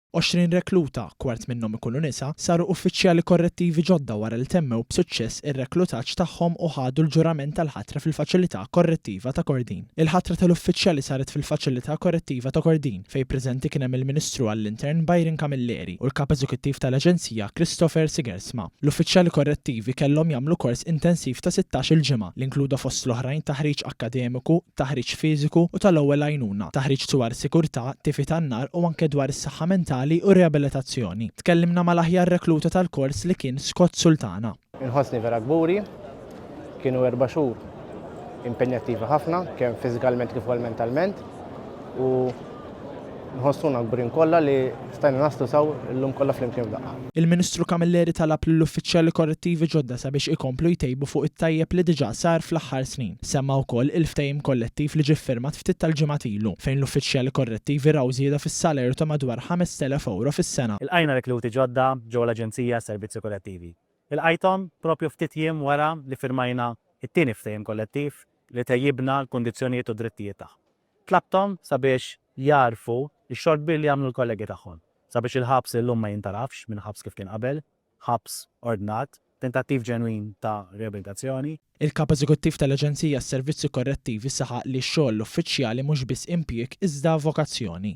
Għoxrin rekluta, kwart minnhom ikunu nisa, saru uffiċjali korrettivi ġodda wara li temmew b'suċċess ir-reklutaġġ tagħhom u ħadu l-ġurament tal-ħatra fil-Faċilità Korrettiva ta' Kordin. Il-ħatra tal-uffiċjali saret fil-Faċilità Korrettiva ta' Kordin, fejn preżenti kien hemm il-Ministru għall-Intern Byron Camilleri u l-Kap Eżekuttiv tal-Aġenzija Christopher Sigerson. l-oqsma. L-uffiċjali korrettivi kellhom jagħmlu kors intensiv ta' sittax-il ġimgħa, li inkluda fost l-oħrajn taħriġ akkademiku, taħriġ fiżiku u tal-ewwel għajnuna, taħriġ dwar sigurtà, tifi tan-nar u anke dwar is-saħħa mentali u riabilitazzjoni. Tkellimna mal-aħjar rekluta tal-kors li kien Scott Sultana. Inħossni vera kburi Kienu erba' xhur impenjattivi ħafna, kemm fiżikalment kif ukoll mentalment, u nħossuna kburin kollha li stajna naslu saw illum kollha flimkien f'daqqa. Il-Ministru Camilleri talab lill-uffiċjali korrettivi ġodda sabiex ikomplu jtejbu fuq it-tajjeb li diġà sar fl-aħħar snin. Semma wkoll il-ftehim kollettiv li ġie ffirmat ftit tal-ġimgħat ilu, fejn l-uffiċjali korrettivi raw żieda fis-salerju ta' madwar 5,000 ewro fis-sena. Ilqajna rekluti ġodda ġewwa l-Aġenzija għas-Servizzi Korrettivi, Ilqajthom proprju ftit jiem wara li firmajna t-tieni ftehim kollettiv li tejjibna l-kundizzjonijiet u d-drittijiet tagħhom. Tlabthom sabiex jagħrfu x-xogħol kbir li għamlu l-kollegi tagħhom sabiex il-ħabs illum ma jintarafx minn ħabs kif kien qabel, ħabs ordnat, tentattiv ġenwin ta' riabilitazzjoni. Il-Kap Eżekuttiv tal-Aġenzija għas-Servizzi Korrettivi saħaq li x-xogħol uffiċjali mhux biss impjieg iżda vokazzjoni.